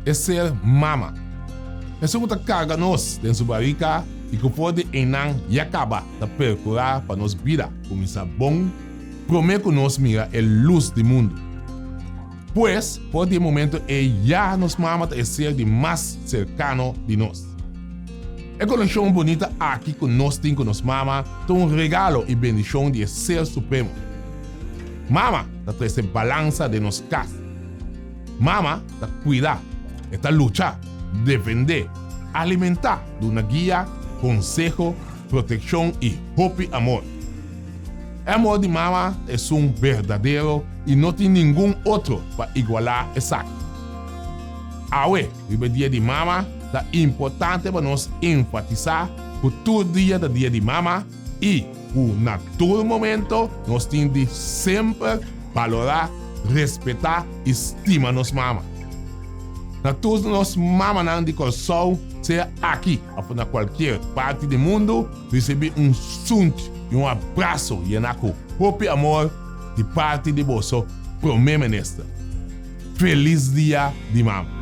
E ser mama. Esun ku ta karga nos den su barika i ku for di einan ya kaba ta perkurá pa nos bida kuminsá bon promé ku nos mira e lus di mundu. Pues, for di e momento ei ya nos mama ta e ser di mas serkano di nos. E konekshon bunita aki ku nos tin ku nos mama ta un regalo i bendishon di e Ser Supremo. Mama ta trese balansa den nos kas. Mama ta kuida, e ta lucha, defendé, alimentá, duna guia, konseho, protekshon i hopi amor. E amor di mama esun berdadero i no tin ningun otro pa igualá esaki. Awe, riba e Dia di Mama, ta importante pa nos enfatisá ku tur dia ta Dia di Mama i ku na tur momento nos tin di semper balorá, respetá i stima nos mama. Na tur nos mamanan di Kòrsou, sea aki Afo na kualkier parti di mundu risibí un sunt i un abraso yená ku hopi amor di parti di boso Prome Minister. Felis Dia di Mama!